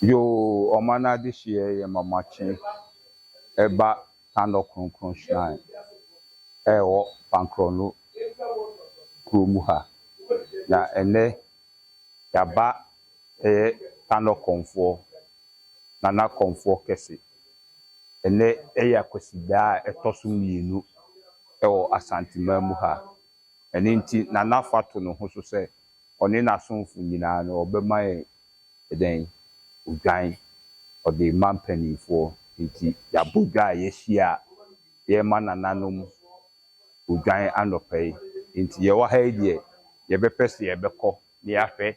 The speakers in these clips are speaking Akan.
Yoo ɔma n'adehyeɛ yɛ mamakye ɛba Tanɔ Kronkron Shrine ɛwɔ Fankrɔno kuro mu ha. Na ɛnɛ yɛaba ɛyɛ Tanɔ Kɔmfoɔ, Nana Kɔmfoɔ kɛse. Ɛnɛ ɛyɛ Akwasidaa a ɛtɔ so mmienu. wɔ Asanteman mu ha. Ɛno nti Nana fa to ne ho so sɛ ɔne n'asomfo nyinaa no ɔbɛma yɛn dɛn? Odwan. Ɔde rema mpanimfoɔ. Enti yɛabɔ dwa a yɛahyia a, yɛrema nananom odwan anɔpa yi. Enti yɛwɔ ha yi deɛ, yɛbɛpɛ sɛ yɛbɛkɔ na yɛahwɛ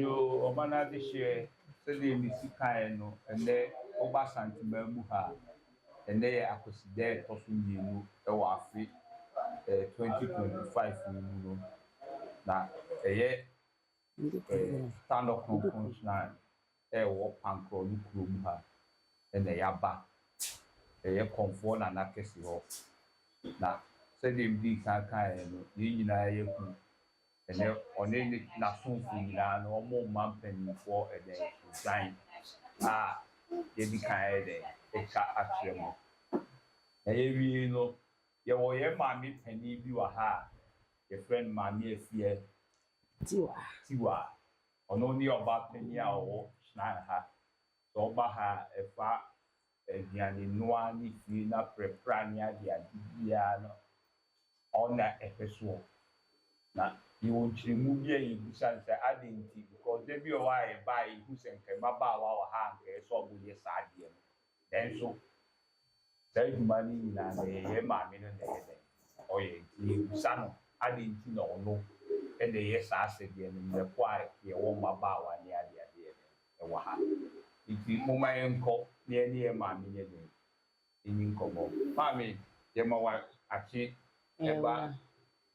Yo, ɔba no adehyeɛ sɛdeɛ mesi kaeɛ no ɛnɛ woba Asanteman mu ha a, ɛnɛ yɛ Akwasida a ɛtɔ so mmienu wɔ afe eh, 2025 yi mu no, na ɛyɛ Standɔ Kronkron Shrine wɔ Pankrɔn no kurom ha na yɛaba. Ɛyɛ Kɔmfoɔ Nana kɛse hɔ. Na sɛdeɛ medii kan kaeɛ no, yɛn nyinaa yɛ kunu. Ɛnnɛ ɔne n'asomfoɔ nyinaa no, wɔrema mpanimfoɔ ɛdɛn, odwan a yɛadi kan ayɛ dɛn, atwa akyerɛ mo. Na yɛwiei no, yɛwɔ yɛn maame panin bi wɔ ha a, yɛfrɛ no Maame Afiɛ. Tiwa. Tiwa. Ɔno ne ɔbaa panin a ɔwɔ Shrine ha. Sɛ ɔba ha a, ɛfa aduanenoa ne fie no aprapra ne adeade biara no, ɔno na ɛhwɛ soɔ. Na yɛwɔ nkyerɛmu bi a yɛbisa no sɛ, adɛn nti? Because da bi wɔ hɔ a yɛba a, yɛhu sɛ anka mmabaawa wɔ ha a anka ɛsɛ sɛ wɔyɛ saa adeɛ no. Nanso saa adwuma no nyinaa na ɛyɛ yɛn maame no na ɛyɛ dɛn ɔyɛ. Nti yɛbisa no adɛn nti na ɔno na ɛyɛ saa asɛdeɛ no mmerɛ ko a yɛwɔ mmabaawa ne adeadeɛ no wɔ ha no. Nti momma yɛnkɔ na yɛne yɛn maame nyɛ dɛn nni nkɔmmɔ. Maame, yɛma wo akye ba.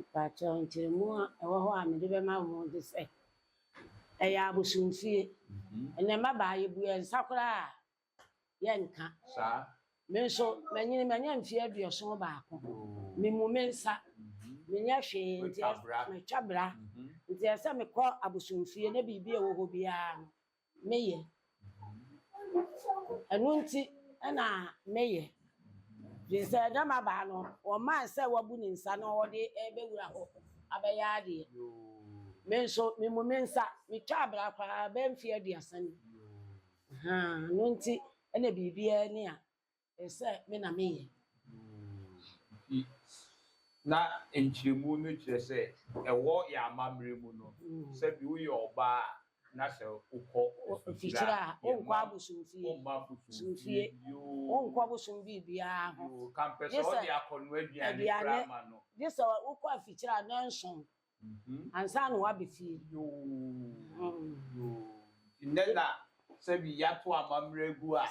Mpakyɛw nkyerɛmu a ɛwɔ hɔ a mede bɛma wo ne sɛ, ɛyɛ abosomfie. Ɛnɛ mmabaa yɛbue nsa koraa a yɛnka. Me nso manyini manya mfeɛ aduɔson baako. Memu me nsa. Menyɛ hwee nti matwa bra. Nti ɛsɛ sɛ mekɔ abosomfie na biribi a ɛwɔ hɔ biara no meyɛ. Ɛno nti na meyɛ. Gye sɛ dɛ m'abaa no, wɔmmaa no sɛ wabu ne nsa na ɔde rebɛwura hɔ abɛyɛ adeɛ. Me nso, memu me nsa. Metwa abira koraa abɛyɛ mfeɛ aduasa ni. Ɛno nti na biribiara ni a Sɛ me na meyɛ. Nti, na nkyerɛmu no kyerɛ sɛ ɛwɔ yɛn amammerɛ mu no, sɛ bi woyɛ ɔbaa a, na sɛ wokɔ mfikyire a, wonkɔ abosomfie, womma abosomfie bio, wonkɔ abosom biribiara ho, gye sɛ aduane, gye sɛ wokɔ afikyire a nnanson ansa na wɔaba fie.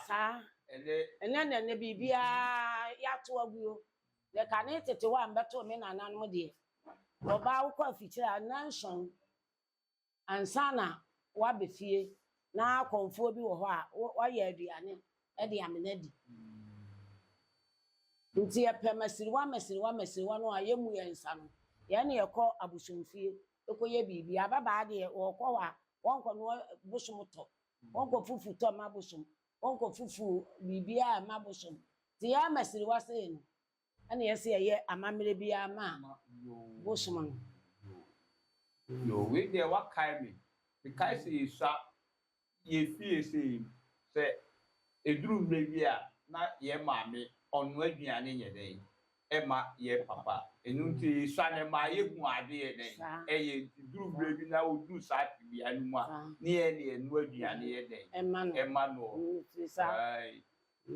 Saa. Ɛnnɛ na ɛnnɛ biribiara yɛato agu o. Deɛ kane tete hɔ a mebɛtoo me nananom deɛ, ɔbaa wokɔ afikyire a, nnanson. ansa na woaba fie na akɔmfoɔ bi wɔ hɔ a woayɛ aduane de amena adi. Nti yɛpɛ masiriwa masiriwa masiriwa no a yɛmmu yɛn nsa no, yɛne yɛkɔ abosomfie kɔyɛ biribi. Ababaa deɛ wɔkɔ hɔ a wɔnkɔnoa bosom tɔ, wɔnkɔ fufu tɔ mma bosom, wɔnkɔ fufu biribiara mma bosom. Nti yɛn amasiriwa sei no, Ɛna yɛse yɛyɛ amammerɛ biara ma bosom no. Yoo wei deɛ wakae me mekae sɛ yɛsua yɛ fie sɛ yi sɛ ɛduru mmerɛ bi a na yɛ maame ɔnoa aduane yɛ dɛn ɛma yɛ papa ɛno nti yɛsua no ɛma yɛhu ade yɛ dɛn ɛyɛ nti duru mmerɛ bi na ɔduru saa tebea no mu a ne yɛ ne yɛnoa aduane yɛ dɛn ɛma no ɔɔ.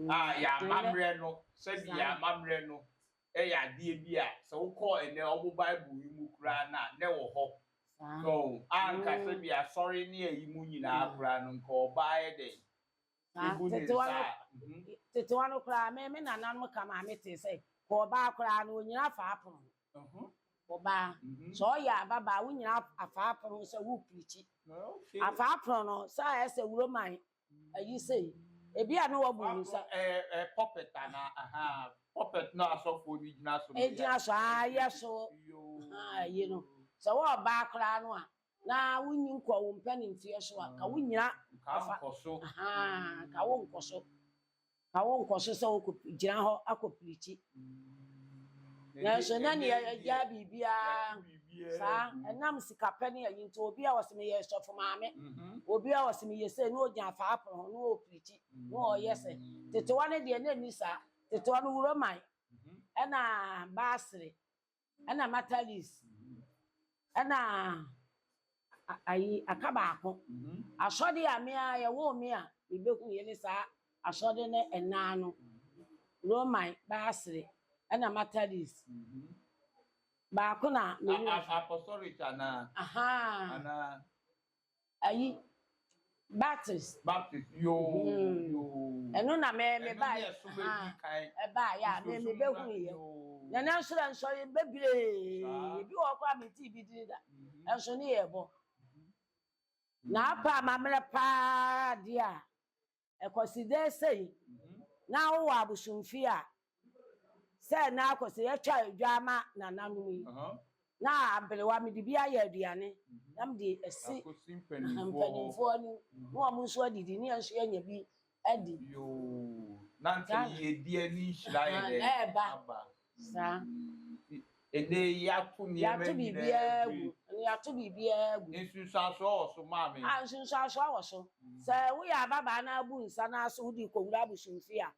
a yɛn amammerɛ no, sɛdeɛ yɛn amammerɛ no yɛ adeɛ bi a sɛ wokɔ ɛnnɛ wɔn Bible yi mu koraa no a, na ɛwɔ hɔ. So wo? A anka sɛdeɛ asɔre ne ayi mu nyinaa koraa no, anka ɔbaa ayɛ dɛn? Ebu ne nsa a. Mhm. Tetewa no koraa, me me nananom ka maa me tee sɛ, kɔ ɔbaa koraa no, onyina afa apono ho. Mhm. Ɔbaa. Mhm. Sɛ ɔyɛ ababaa, wonyina afa apono ho sɛ woreprikyi. Okay. Afa apono no, sɛ ayɛ sɛ wuroman ayi sei ebi a na wɔbu ne nsa. ɛɛ pulpit ana ahaa pulpit na asɔfoɔ no gyina so. egyina so aa yɛ so aa yi no sɛ wɔɔbaa koraa no a na wonyi nkɔ wo mpɛnimfeɛ so a ka wonyina. ka nkɔ so. Ahaa ka wo nkɔ so. Anka wonkɔ so sɛ wogyina hɔ akɔpirikyi. Nanso na nea agyaa biribiara saa, ɛnam sikapɛ ne ayi nti, obi a ɔse meyɛ sɔfo maame, obi a ɔse meyɛ sei, na ogyina faa pono ho na ɔrepirikyi, na ɔreyɛ sɛ. Tetewa no deɛ na ɛnni saa. Tetewa no Wuroman ɛna Baasere ɛna matalis ɛna ayi aka baako mhm. asɔde a mmea yɛwɔ mmea ebehu yɛ ne saa asɔde ne ɛnan no roman baasere ɛna matalis mhm. baako na mewɔ apostolic anaa anaa ayi batteries. Batteries yoo yoo. Ɛno na mɛ mɛ ba yɛ so bɛ di kan. Ɛba yɛ a mɛ mɛ bɛ hu yɛ. Nana nsoro nsoro yɛ bɛ bire. Ebi wɔ kɔ a mi ti bi di da. Ɛnso ne yɛ bɔ. Na apa amammerɛ paa deɛ a Ɛkɔse dɛ sei na wowɔ abosomfie a, sɛ na akɔse yɛtwa dwa ama nananom yi, na aberewa mede bi ayɛ aduane na mede asi mpanimfoɔ no na wɔn nso adidi na yɛn nso yɛanya bi adi. Yoo, na anka yiedie ne nhyira ayɛ dɛn aba. Saa. Ɛnnɛ yi, yɛato nneɛma nyinaa gu. Yɛato biribiara gu. Ɛnnɛ yɛato biribiara gu. Nsunsuansoɔ wɔ so, maame. Ah, nsunsuansoɔ wɔ so. Sɛ woyɛ ababaa na abu nsa na aso wode rekɔwura abosomfie a,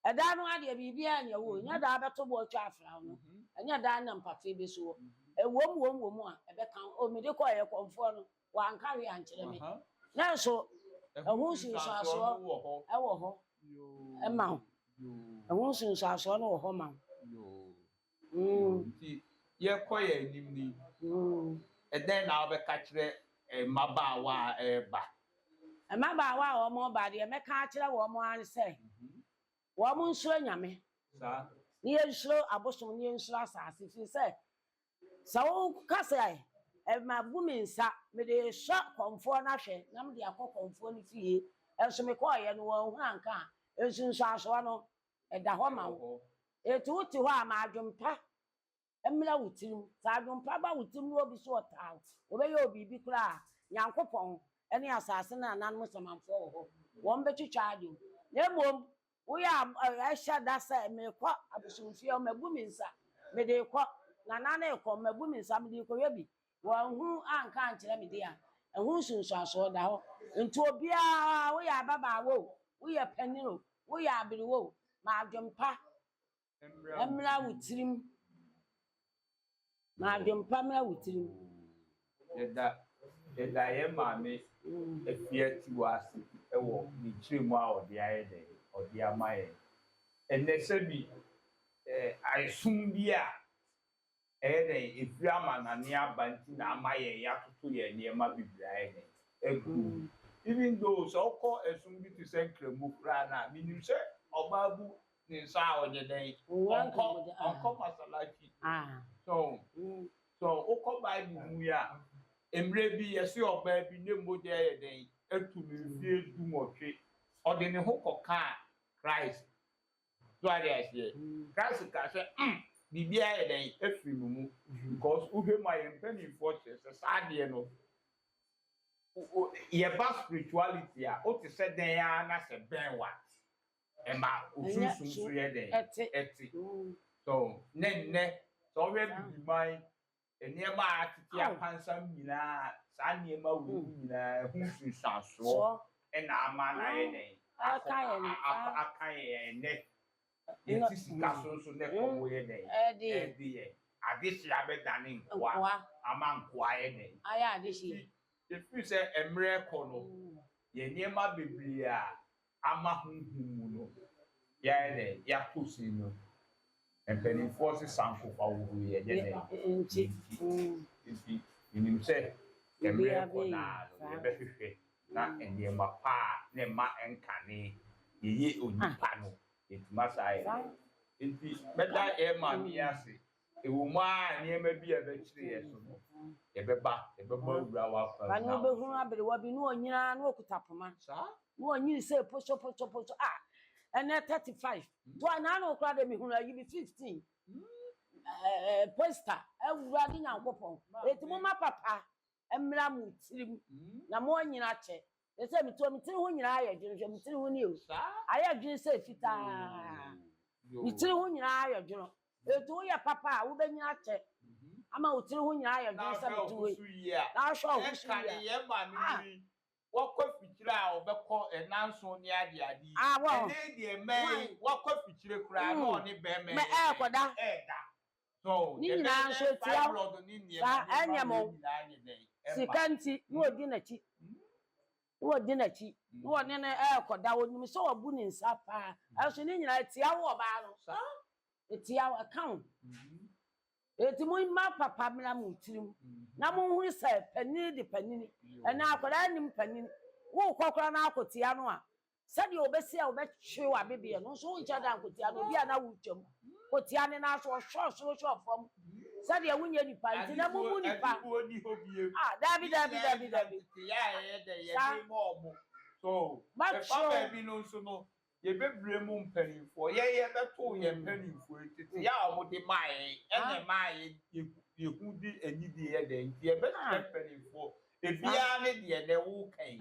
ɛda no ara deɛ biribiara nyɛ wo o. Ɛnyɛ da a wobɛto bo atwa afra wo no. Ɛnyɛ da a na mpatee bɛsi wo. Ɛwom wom wom a, ɛbɛka wo. O, mede kɔɔ yɛkɔmfoɔ no. Wanka hwee ankyerɛ me. Nanso ɛho nsunsuansoɔ wɔ hɔ ma wo. Ɛho nsunsuansoɔ no wɔ hɔ ma wo. Nti yɛkɔ yɛn anim ni, ɛdɛn na wobɛka kyerɛ mmabaawa a ɛreba? Mmabaawa a wɔreba deɛ mɛka akyerɛ wɔn ara ne sɛ, wɔn nsuro Nyame. Na yɛnsuro abosom, na yɛnsuro asase, firi sɛ Sɛ woka sɛ, Mabu me nsa mede resɔ kɔmfoɔ no ahwɛ na mede akɔ kɔmfoɔ no fie, nso mekɔeɛ no, wɔanhunu anka a, nsunsuansoɔ no, ɛda hɔ ma wo. Enti wote hɔ a, ma adwempa mmra wo tirim. Sɛ adwempa ba wo tirim na obi so ɔtaa wo, wɔbɛyɛ wo biribi koraa a, Nyankopɔn ne asase no ananom samanfoɔ wɔ hɔ, wɔbɛtwitwa adwene. Na mmom Woyɛ a ɛhyɛ da sɛ, Merekɔ abosomfie, mabu me nsa, mede rekɔ. Nana no rekɔ, mabu me nsa, mede rekɔyɛ bi. Wanhunu anka ankyerɛ me deɛ a, ɛho nsunsuansoɔ da hɔ. Enti obiara, woyɛ ababaawa o, woyɛ panin o, woyɛ aberewa o, ma adwempa mmra wo tirim. Ma adwempa mmra wo tirim. Yɛda yɛda yɛn maame afie atiwa ase wɔ ne kyerɛ mu a ɔde ayɛ dɛ ɔde ama yɛn ɛnɛ sɛbi ɛɛ aesom bi a Ɛyɛ dɛn? Efiri amanane aba nti na ama yɛn yatoto yɛn nneɛma bebreaɛ ne aguo. Even though sɛ wokɔ ɛsom bi te sɛ Nkramu koraa no a, menim sɛ ɔbaa bu ne nsa a ɔnyɛ dɛn? Ɔnkɔ, ɔnkɔ masalachi. So wo? So wokɔ Bible mu yi a, mmerɛ bi yɛse ɔbaa bi ne mogya ayɛ dɛn? Atu no mfie du nwɔtwe, ɔde ne ho kɔkaa Christ. So ate aseɛ? Christ kaa sɛ, mm, biribiara ayɛ dɛn? Afiri mo mu. Because wohwɛ mu a yɛn mpaninfoɔ kyerɛ sɛ saa adeɛ no, yɛba spirituality a, wote sɛ dɛn ara na sɛ bɛn wo a, ɛma wo sunsum so yɛ dɛn? Ɛte. So, ne nnɛ, sɛ wohwɛ Abibiman Nneɛma a atete apansam nyinaa, saa nneɛma wei no nyinaa ho nsunsuansoɔ na ama no ayɛ dɛn? Aka yɛn aka aka yɛn ɛnɛ. Yɛte sika so nso na ɛkɔm yɛ dɛn? Ɛde yɛn. Adehyeɛ abɛdane nkoa ama nkoa ayɛ dɛn? Ayɛ adehyeɛ. Ɛfiri sɛ mmerɛ rekɔ no, yɛn nneɛma bebree a ama honhom mu no, yɛayɛ dɛn? Yɛato sin no. Mpanimfoɔ se sankofa wɔ hɔ yi, ɛnyɛ dɛn? Ɛnti. Nti, menim sɛ mmerɛ kɔ no ara no, yɛbɛhwehwɛ na nneɛma pa a na ɛma ɛnkane yɛyɛ onipa no, yɛatumi asa ayɛ dɛn? Nti, mɛda yɛn Maame yi ase Ɛwom ara a nneɛma bi a ɛbɛkyere yɛn so no, yɛbɛba, yɛbɛbɔ awura w'afam. Ba no wobɛhunu aberewa bi na ɔnyini ara na ɔkuta poma. Na ɔnyini sɛ posoposoposo. Ah, ɛnɛ 35. To a na ano koraa deɛ mehunu ayi bi 15. Ɛɛ, poster, Awurade Nyankopɔn. Enti mo ma papa. mmra mo tirim na mo nyina akyɛ te sɛ me tiri me tiri ho nyinaa ayɛ dwono hwɛ me tiri ho ni o ayɛ dwono sɛ fitaa me tiri ho nyinaa ayɛ dwono etu woyɛ papa a wobɛnyina akyɛ ama wo tiri ho nyinaa ayɛ dwono sɛ me tiri ho yi na ahwɛ ɔho so yi a ah wakɔ fikyire a ɔbɛkɔ ɛna nson ne ade ade yi ɛnɛ deɛ mɛn wakɔ fikyire koraa na ɔne bɛmɛ ɛɛkɔda ɛɛda Ne nyinaa nso etia wo. Saa ɛnyɛ mo. Sika nti na odi n'akyi. Na odi n'akyi. Na ɔne no rekɔda. Onim sɛ wabu ne nsa paa. Nanso ne nyinaa etia wo ɔbaa no. Etia wo. Ɛka wo. Enti momma papa mmra mo tirim. Na monhunu sɛ panini de panini. Ɛnɛ akwadaa nnim panini. Worekɔ koraa na akɔtia no a, Sɛdeɛ ɔbɛsi a wɔbɛtwe w'abebeɛ no nso wonkyɛ da nkotia no, obi a na wotwa mu kotia ne nan so, ɔhwɛ ɔsoro hwɛ ɔfam, sɛdeɛ wonyɛ nipa nti na mobu nipa. Ah, dabi, dabi, dabi, dabi. Sa. Bɛfa baabi no nso no, yɛbɛbrɛ mu mpanimfoɔ. Yɛn yɛbɛto yɛn mm. mpanimfoɔ yi tete yɛ a wɔde maa yɛn ɛna ah. ɛmaa yɛhu de anidie yɛ dɛn nti yɛbɛsrɛ ah. mpanimfoɔ Ebiaa ne deɛ nɛ wo ka yi.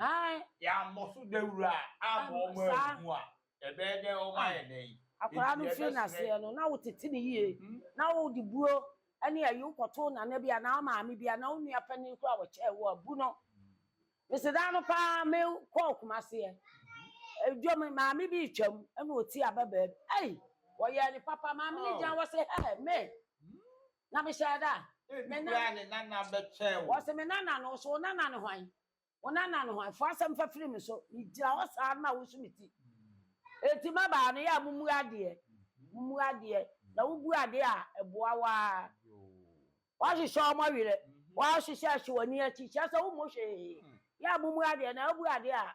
Yɛ ammɔ so dawuro a amma ɔmo anhu a, ɛbɛyɛ dɛn ɔmo ayɛ dɛn? Akwadaa no firi naseɛ no na wo tete no yie na wo de buro ɛne ayi wo kɔ too nana bi anaa wo maame bi anaa wo nua panin koraa a ɔkyɛɛ wo a bu no. Mese daa no paa me kɔɔ kumaseɛ dwa mu maame bi retwam ɛna ɔti ababaa bi ei ɔyɛɛ no papa maame no gyan hɔ se hɛɛ me Na mehyɛɛ da. Ebi koraa a ne nana bɛkyɛɛ wo. Ɔse me nana no, ɔse wo nana ne hwan? Wo nana ne hwan? Fa asɛm fa firi me so. Megyina hɔ saa no ma wosu me ti. Enti mmabaa no, yɛ a mommu adeɛ. Mommu adeɛ. Na wobu adeɛ a, ɛboa wo ara. Woahyehyɛ wɔn werɛ. Woahyehyɛ ahye wɔn ani akyi. Kyerɛ sɛ wommɔ hwee. Yɛ a mommu adeɛ. Na wobu adeɛ a,